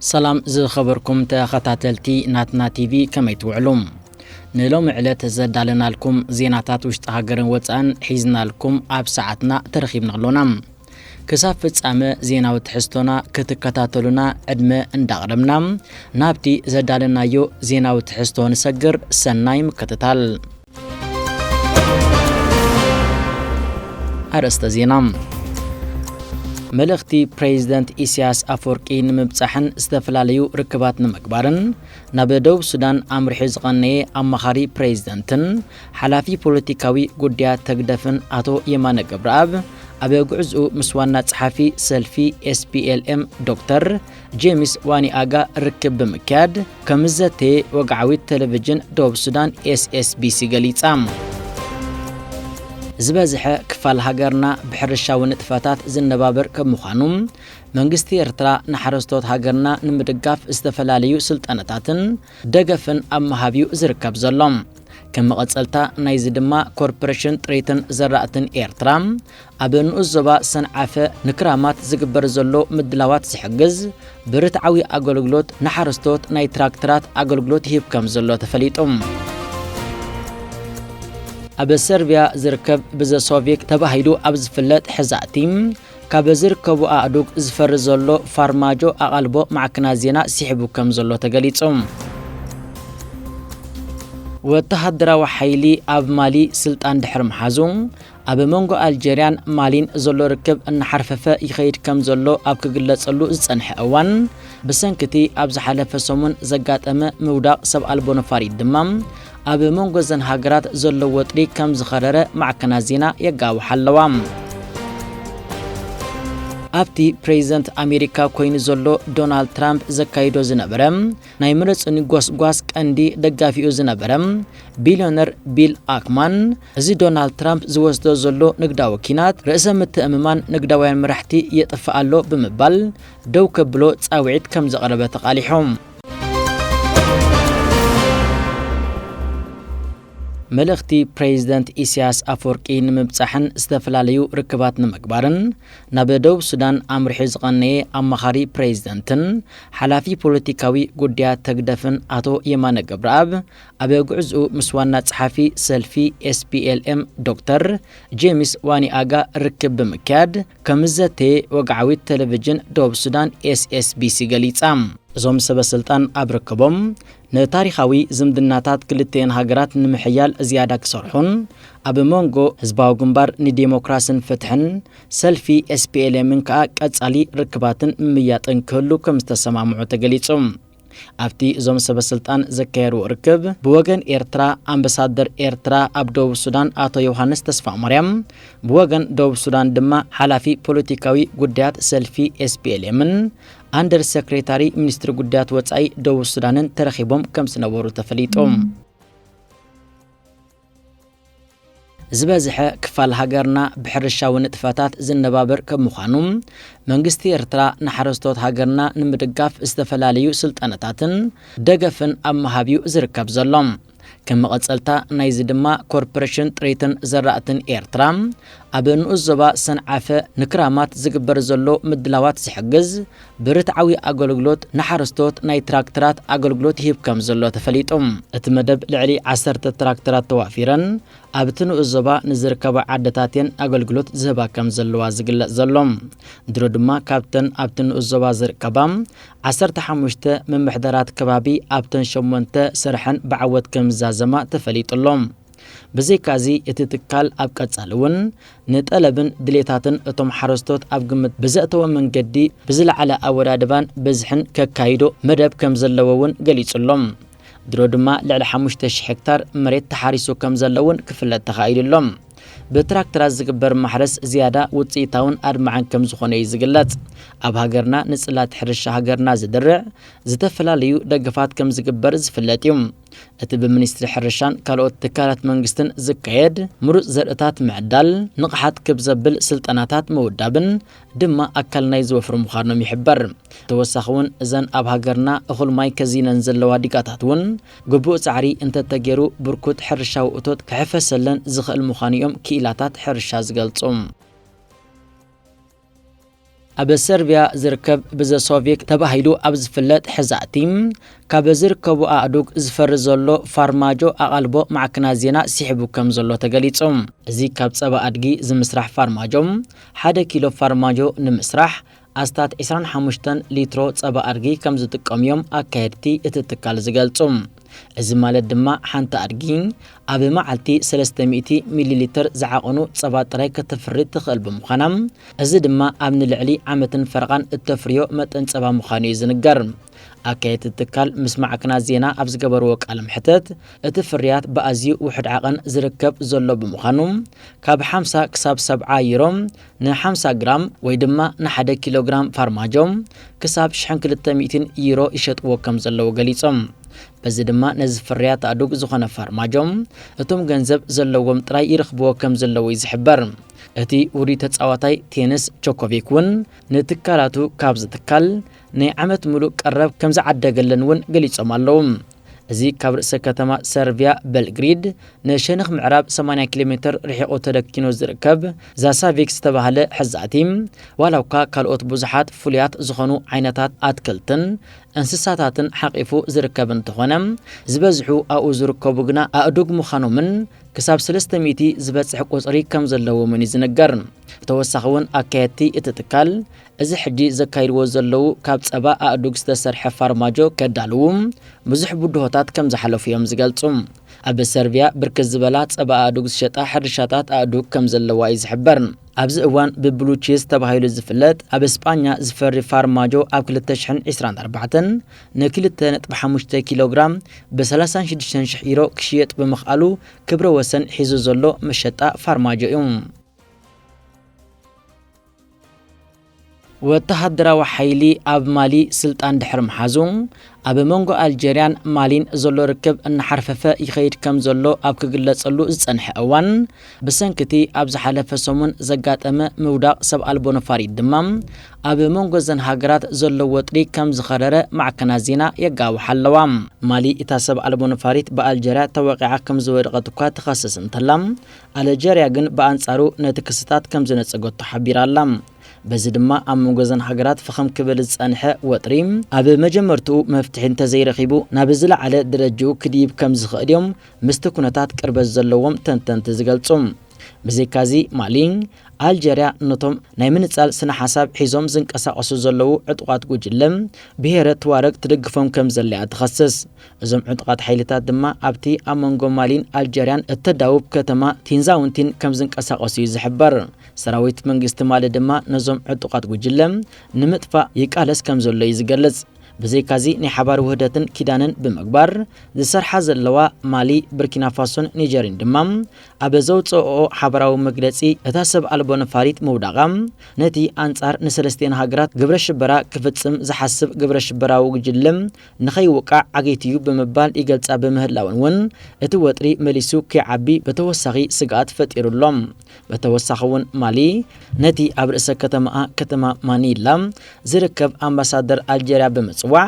ሰላም ዝኸበርኩም ተኸታተልቲ ናትና ቲቪ ከመይ ትውዕሉ? ንሎሚ ዕለት ዘዳለናልኩም ዜናታት ውሽጢ ሃገርን ወፃእን ሒዝናልኩም ኣብ ሰዓትና ተረኺብና ኣሎና። ክሳብ ፍጻመ ዜናዊ ትሕዝቶና ክትከታተሉና ዕድመ እንዳቕረብና ናብቲ ዘዳለናዮ ዜናዊ ትሕዝቶ ንሰግር። ሰናይ ምክትታል። ኣርእስተ ዜና መልእኽቲ ፕሬዚደንት ኢሳያስ ኣፈወርቂ ንምብጻሕን ዝተፈላለዩ ርክባት ንምግባርን ናብ ደቡብ ሱዳን ኣምርሑ ዝቐነየ ኣማኻሪ ፕሬዚደንትን ሓላፊ ፖለቲካዊ ጉዳያት ተግደፍን ኣቶ የማነ ገብረኣብ ኣብ ጉዕዝኡ ምስ ዋና ጸሓፊ ሰልፊ ኤስፒኤልኤም ዶክተር ጄምስ ዋኒኣጋ ርክብ ብምክያድ ከምዘተየ ወግዓዊት ቴሌቪዥን ደቡብ ሱዳን ኤስኤስቢሲ ገሊጻ። ዝበዝሐ ክፋል ሃገርና ብሕርሻዊ ንጥፈታት ዝነባበር ከም ምዃኑ መንግስቲ ኤርትራ ንሓረስቶት ሃገርና ንምድጋፍ ዝተፈላለዩ ስልጠነታትን ደገፍን ኣብ ምሃብ እዩ ዝርከብ ዘሎ ከም መቐጸልታ ናይዚ ድማ ኮርፖሬሽን ጥሪትን ዘራእትን ኤርትራ ኣብ ንኡስ ዞባ ሰንዓፈ ንክራማት ዝግበር ዘሎ ምድላዋት ዝሕግዝ ብርትዓዊ ኣገልግሎት ንሓረስቶት ናይ ትራክተራት ኣገልግሎት ይህብ ከም ዘሎ ተፈሊጡ። ኣብ ሰርብያ ዝርከብ ብዘሶቪክ ተባሂሉ ኣብ ዝፍለጥ ሕዛእቲ ካብ ዝርከቡ ኣእዱግ ዝፈሪ ዘሎ ፋርማጆ ኣቓልቦ ማዕክናት ዜና ስሒቡ ከም ዘሎ ተገሊጹ። ወተሃደራዊ ሓይሊ ኣብ ማሊ ስልጣን ድሕሪ ምሓዙ ኣብ መንጎ ኣልጀርያን ማሊን ዘሎ ርክብ እናሓርፈፈ ይኸይድ ከምዘሎ ኣብ ክግለጸሉ ዝጸንሐ እዋን፣ ብሰንኪ'ቲ ኣብ ዝሓለፈ ሰሙን ዘጋጠመ ምውዳቕ ሰብ ኣልቦ ነፋሪት ድማ፣ ኣብ መንጎ'ዘን ሃገራት ዘሎ ወጥሪ ከምዝኸረረ ማዕከናት ዜና የጋውሓ ኣለዋ። ኣብቲ ፕሬዚደንት ኣሜሪካ ኮይኑ ዘሎ ዶናልድ ትራምፕ ዘካይዶ ዝነበረ ናይ ምረጹኒ ጎስጓስ ቀንዲ ደጋፊኡ ዝነበረ ቢልዮነር ቢል ኣክማን እዚ ዶናልድ ትራምፕ ዝወስዶ ዘሎ ንግዳዊ ኲናት፣ ርእሰ ምትእምማን ንግዳውያን መራሕቲ የጥፍእ ኣሎ ብምባል ደው ከብሎ ጻውዒት ከም ዘቕረበ ተቓሊሑ። መልእኽቲ ፕሬዚደንት ኢሲያስ ኣፈወርቂ ንምብጻሕን ዝተፈላለዩ ርክባት ንምግባርን ናብ ደቡብ ሱዳን ኣምሪሑ ዝቐነየ ኣማኻሪ ፕሬዚደንትን ሓላፊ ፖለቲካዊ ጉዳያት ተግደፍን ኣቶ የማነ ገብረኣብ ኣብ ጉዕዝኡ ምስ ዋና ጸሓፊ ሰልፊ SPLM ዶክተር ጄምስ ዋኒኣጋ ርክብ ብምክያድ ከምዝዘተየ ወግዓዊት ቴሌቪዥን ደቡብ ሱዳን SSBC ገሊጻ። እዞም ሰበስልጣን ኣብ ርክቦም፣ ንታሪኻዊ ዝምድናታት ክልቲኤን ሃገራት ንምሕያል ዝያዳ ክሰርሑን ኣብ መንጎ ህዝባዊ ግንባር ንዴሞክራስን ፍትሕን፣ ሰልፊ SPLM ን ከኣ ቀጻሊ ርክባትን ምምይያጥን ክህሉ ከምዝተሰማምዑ ተገሊጹ። ኣብቲ እዞም ሰበስልጣን ዘካየድዎ ርክብ፣ ብወገን ኤርትራ ኣምበሳደር ኤርትራ ኣብ ደቡብ ሱዳን ኣቶ ዮውሃንስ ተስፋማርያም፣ ብወገን ደቡብ ሱዳን ድማ ሓላፊ ፖለቲካዊ ጉዳያት ሰልፊ ኤስፒኤልኤምን ኣንደር ሰክሬታሪ ሚኒስትሪ ጉዳያት ወጻኢ ደቡብ ሱዳንን ተረኺቦም ከምዝነበሩ ተፈሊጡ። ዝበዝሐ ክፋል ሃገርና ብሕርሻዊ ንጥፈታት ዝነባበር ከም ምዃኑ፣ መንግስቲ ኤርትራ ንሓረስቶት ሃገርና ንምድጋፍ ዝተፈላለዩ ስልጠነታትን ደገፍን ኣብ ምሃብ'ዩ ዝርከብ ዘሎ። ከም መቐጸልታ ናይዚ ድማ ኮርፖረሽን ጥሪትን ዘራእትን ኤርትራ ኣብ ንኡስ ዞባ ሰንዓፈ ንክራማት ዝግበር ዘሎ ምድላዋት ዝሕግዝ ብርትዓዊ ኣገልግሎት ንሓረስቶት ናይ ትራክተራት ኣገልግሎት ይህብ ከምዘሎ ተፈሊጡ። እቲ መደብ ልዕሊ ዓሰርተ ትራክተራት ተዋፊረን ኣብቲ ንኡስ ዞባ ንዝርከባ ዓድታት እየን ኣገልግሎት ዝህባ ከምዘለዋ ዝግለፅ ዘሎ። ድሮ ድማ ካብተን ኣብቲ ንኡስ ዞባ ዝርከባ ዓሰርተ ሓሙሽተ ምምሕዳራት ከባቢ ኣብተን ሸሞንተ ስርሐን ብዓወት ከምዝዛዘማ ተፈሊጡ ኣሎ። ብዘይካ'ዚ እቲ ትካል ኣብ ቀፃሊ እውን ንጠለብን ድሌታትን እቶም ሓረስቶት ኣብ ግምት ብዘእተወ መንገዲ ብዝለዓለ ኣወዳድባን ብዝሕን ከካይዶ መደብ ከምዘለዎ እውን ገሊፁ'ሎ። ድሮ ድማ ልዕሊ ሓሙሽተ ሽሕ ሄክታር መሬት ተሓሪሱ ከምዘሎ እውን ክፍለጥ ተኻኢሉ'ሎ። ብትራክተራት ዝግበር ማሕረስ ዝያዳ ውፅኢታውን ኣድማዕን ከምዝኾነ እዩ ዝግለፅ። ኣብ ሃገርና ንፅላት ሕርሻ ሃገርና ዝድርዕ ዝተፈላለዩ ደገፋት ከምዝግበር ዝፍለጥ እዩ። እቲ ብሚኒስትሪ ሕርሻን ካልኦት ትካላት መንግስትን ዝካየድ ምሩፅ ዘርእታት ምዕዳል ንቕሓት ክብ ዘብል ስልጠናታት ምውዳብን ድማ ኣካል ናይዚ ወፍሪ ምዃኖም ይሕበር። ተወሳኺ እውን እዘን ኣብ ሃገርና እኹል ማይ ከዚነን ዘለዋ ዲጋታት እውን ግቡእ ፃዕሪ እንተተገይሩ ብርኩት ሕርሻዊ እቶት ክሕፈሰለን ዝኽእል ምዃኑ እዮም ክኢላታት ሕርሻ ዝገልፁ። ኣብ ሰርብያ ዝርከብ ብዘሶቪክ ተባሂሉ ኣብ ዝፍለጥ ሕዛእቲ ካብ ዝርከቡ ኣእዱግ ዝፈሪ ዘሎ ፋርማጆ ኣቓልቦ ማዕክናት ዜና ሲሕቡ ከም ዘሎ ተገሊጹ። እዚ ካብ ጸባ ኣድጊ ዝምስራሕ ፋርማጆ፣ ሓደ ኪሎ ፋርማጆ ንምስራሕ ኣስታት ዕስራን ሓሙሽተን ሊትሮ ጸባ ኣድጊ ከም ዝጥቀሙ'ዮም ኣካየድቲ እቲ ትካል ዝገልጹ። እዚ ማለት ድማ ሓንቲ ኣድጊ ኣብ መዓልቲ ሰለስተ ሚእቲ ሚሊ ሊትር ዝዓቐኑ ጸባ ጥራይ ከተፍሪ ትኽእል ብምዃና፣ እዚ ድማ ኣብ ንልዕሊ ዓመትን ፈረቓን እተፍርዮ መጠን ጸባ ምዃኑ እዩ ዝንገር። ኣካየድቲ እቲ ትካል ምስ ማዕከናት ዜና ኣብ ዝገበርዎ ቃለ መሕትት፣ እቲ ፍርያት ብኣዝዩ ውሑድ ዓቐን ዝርከብ ዘሎ ብምዃኑ፣ ካብ ሓምሳ ክሳብ ሰብዓ ዩሮ ንሓምሳ ግራም ወይ ድማ ንሓደ ኪሎ ግራም ፋርማጆ ክሳብ ሽሕን ክልተ ሚእቲን ዩሮ ይሸጥዎ ከም ዘለዉ ገሊጾም። በዚ ድማ ነዚ ፍርያት ኣእዱግ ዝኾነ ፋርማጆ እቶም ገንዘብ ዘለዎም ጥራይ ይረኽብዎ ከም ዘለዉ'ዩ ዝሕበር። እቲ ውሩይ ተጻዋታይ ቴንስ ጆኮቪክ እውን ንትካላቱ ካብዚ ትካል ናይ ዓመት ምሉእ ቀረብ ከም ዝዓደገለን እውን ገሊጾም ኣለዉ። እዚ ካብ ርእሰ ከተማ ሰርቪያ በልግሪድ ንሸነኽ ምዕራብ ሰማንያ ኪሎ ሜተር ርሒቑ ተደኪኑ ዝርከብ ዛሳቪክ ዝተባህለ ሕዛእቲ፣ ዋላ'ኳ ካልኦት ብዙሓት ፍሉያት ዝኾኑ ዓይነታት ኣትክልትን እንስሳታትን ሓቚፉ ዝርከብ እንተኾነ፣ ዝበዝሑ ኣብኡ ዝርከቡ ግና ኣእዱግ ምዃኖምን ክሳብ ሰለስተ ሚእቲ ዝበጽሕ ቁጽሪ ከምዘለዎምን እዩ ዝንገር። ብተወሳኺ'ውን ኣካየድቲ እቲ ትካል፣ እዚ ሕጂ ዘካይድዎ ዘለዉ ካብ ጸባ ኣእዱግ ዝተሰርሐ ፋርማጆ ከዳልዉ ብዙሕ ብድሆታት ከም ዝሓለፉ'ዮም ዝገልጹ። ኣብ ሰርቪያ ብርክት ዝበላ ጸባ ኣእዱግ ዝሸጣ ሕርሻታት ኣእዱግ ከም ዘለዋ'ዩ ዝሕበር። ኣብዚ እዋን ብብሉ ቺዝ ተባሂሉ ዝፍለጥ ኣብ ስጳኛ ዝፈሪ ፋርማጆ ኣብ ክልተ ሽሕን ዕስራን ኣርባዕተን ንክልተ ነጥቢ ሓሙሽተ ኪሎግራም ብ ሰላሳን ሽዱሽተን ሽሕ ዩሮ ክሽየጥ ብምኽኣሉ ክብረ ወሰን ሒዙ ዘሎ መሸጣ ፋርማጆ'ዩ። ወተሃደራዊ ሓይሊ ኣብ ማሊ ስልጣን ድሕሪ ምሓዙ፣ ኣብ መንጎ ኣልጀርያን ማሊን ዘሎ ርክብ እናሓርፈፈ ይኸይድ ከም ዘሎ ኣብ ክግለጸሉ ዝጸንሐ እዋን፣ ብሰንኪ'ቲ ኣብ ዝሓለፈ ሰሙን ዘጋጠመ ምውዳቕ ሰብ ኣልቦ ነፋሪት ድማ፣ ኣብ መንጎ'ዘን ሃገራት ዘሎ ወጥሪ ከም ዝኸረረ ማዕከናት ዜና የጋውሓ ኣለዋ። ማሊ እታ ሰብ ኣልቦ ነፋሪት ብኣልጀርያ ተወቒዓ ከም ዝወደቐት'ኳ ትኸስስ እንተላ፣ ኣለጀርያ ግን ብኣንጻሩ ነቲ ክስታት ከም ዝነጸገቶ ሓቢራ ኣላ። በዚ ድማ ኣብ መንጎ እዘን ሃገራት ፍኽም ክብል ዝጸንሐ ወጥሪ ኣብ መጀመርትኡ መፍትሒ እንተዘይረኺቡ ናብ ዝለዓለ ደረጅኡ ክድይብ ከም ዝኽእል እዮም ምስቲ ኩነታት ቅርበት ዘለዎም ተንተንቲ ዝገልጹ። ብዘይካዚ ማሊ፣ ኣልጀርያ ነቶም ናይ ምንጻል ስነ-ሓሳብ ሒዞም ዝንቀሳቐሱ ዘለዉ ዕጡቓት ጉጅለ ብሄረ ቱዋረግ ትድግፎም ከም ዘላ'ያ ትኸስስ። እዞም ዕጡቓት ሓይልታት ድማ ኣብቲ ኣብ መንጎ ማሊን ኣልጀርያን እተዳውብ ከተማ ቲንዛውንቲን ከም ዝንቀሳቐሱ እዩ ዝሕበር። ሰራዊት መንግስቲ ማሊ ድማ ነዞም ዕጡቓት ጕጅለ ንምጥፋእ ይቃለስ ከም ዘሎ እዩ ዝገልጽ። ብዘይካዚ ናይ ሓባር ውህደትን ኪዳንን ብምግባር ዝሰርሓ ዘለዋ ማሊ፣ ብርኪናፋሶን ኒጀርን ድማ ኣብ ዘውጽእኦ ሓበራዊ መግለጺ እታ ሰብ ኣልቦ ነፋሪት ምውዳቓ ነቲ ኣንጻር ንሰለስቲኤን ሃገራት ግብረ ሽበራ ክፍጽም ዝሓስብ ግብረ ሽበራዊ ጕጅለ ንኸይውቃዕ ዓጊቱ'ዩ ብምባል ይገልጻ ብምህላወን ውን እቲ ወጥሪ መሊሱ ከይዓቢ ብተወሳኺ ስግኣት ፈጢሩ ኣሎ። ብተወሳኺ ውን ማሊ ነቲ ኣብ ርእሰ ከተማኣ ከተማ ማኒላ ዝርከብ ኣምባሳደር ኣልጀርያ ብምጽዋዕ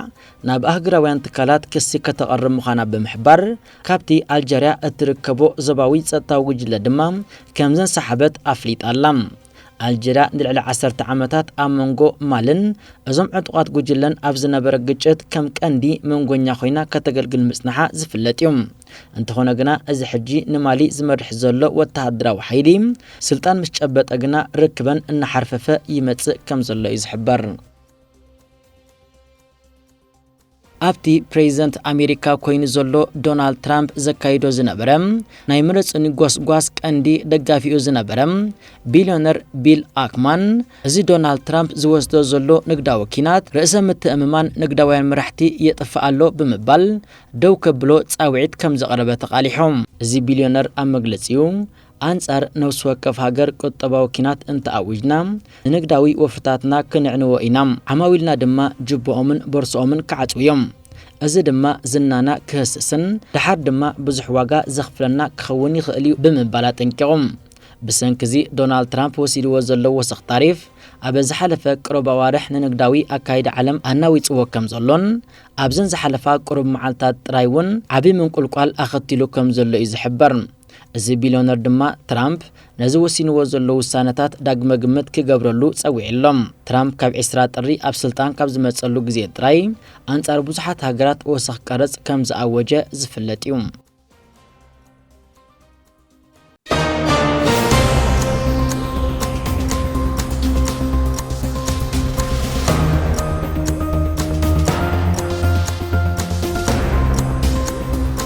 ናብ ኣህጉራውያን ትካላት ክሲ ከተቐርብ ምዃና ብምሕባር ካብቲ ኣልጀርያ እትርከቦ ዞባዊ ጸጥታዊ ጉጅለ ድማ ከምዘንሳሓበት ኣፍሊጣ ኣላ። ኣልጀርያ ንልዕሊ ዓሰርተ ዓመታት ኣብ መንጎ ማልን እዞም ዕጡቓት ጉጅለን ኣብ ዝነበረ ግጭት ከም ቀንዲ መንጎኛ ኮይና ከተገልግል ምጽናሓ ዝፍለጥ እዩ። እንተኾነ ግና እዚ ሕጂ ንማሊ ዝመርሕ ዘሎ ወተሃደራዊ ሓይሊ ስልጣን ምስ ጨበጠ ግና ርክበን እናሓርፈፈ ይመጽእ ከምዘሎ እዩ ዝሕበር። ኣብቲ ፕሬዚደንት ኣሜሪካ ኮይኑ ዘሎ ዶናልድ ትራምፕ ዘካይዶ ዝነበረ ናይ ምረፁኒ ጎስጓስ ቀንዲ ደጋፊኡ ዝነበረ ቢልዮነር ቢል ኣክማን እዚ ዶናልድ ትራምፕ ዝወስዶ ዘሎ ንግዳዊ ኪናት ርእሰ ምትእምማን ንግዳውያን መራሕቲ የጥፍእ ኣሎ ብምባል ደው ከብሎ ፃውዒት ከምዘቕረበ ተቓሊሖም። እዚ ቢልዮነር ኣብ መግለፂኡ ኣንጻር ነፍሲ ወከፍ ሃገር ቁጠባዊ ኲናት እንተ ኣዊጅና፣ ንንግዳዊ ወፍርታትና ክነዕንዎ ኢና፣ ዓማዊልና ድማ ጁባኦምን ቦርሳኦምን ክዓጽዉ እዮም። እዚ ድማ ዝናና ክህስስን ደሓር ድማ ብዙሕ ዋጋ ዘኽፍለና ክኸውን ይኽእል እዩ ብምባል ኣጠንቂቑ። ብሰንኪ እዚ ዶናልድ ትራምፕ ወሲድዎ ዘሎ ወሰኽ ታሪፍ፣ ኣብ ዝሓለፈ ቅሩብ ኣዋርሕ ንንግዳዊ ኣካይዳ ዓለም ኣናዊጽዎ ከም ዘሎን ኣብዘን ዝሓለፋ ቅሩብ መዓልታት ጥራይ እውን ዓቢ ምንቁልቋል ኣኸቲሉ ከም ዘሎ እዩ ዝሕበር። እዚ ቢልዮነር ድማ ትራምፕ ነዚ ወሲንዎ ዘሎ ውሳነታት ዳግመ ግምት ክገብረሉ ጸዊዑ ኣሎ። ትራምፕ ካብ ዕስራ ጥሪ ኣብ ስልጣን ካብ ዝመጸሉ ግዜ ጥራይ ኣንጻር ብዙሓት ሃገራት ወሰኽ ቀረጽ ከም ዝኣወጀ ዝፍለጥ'ዩ።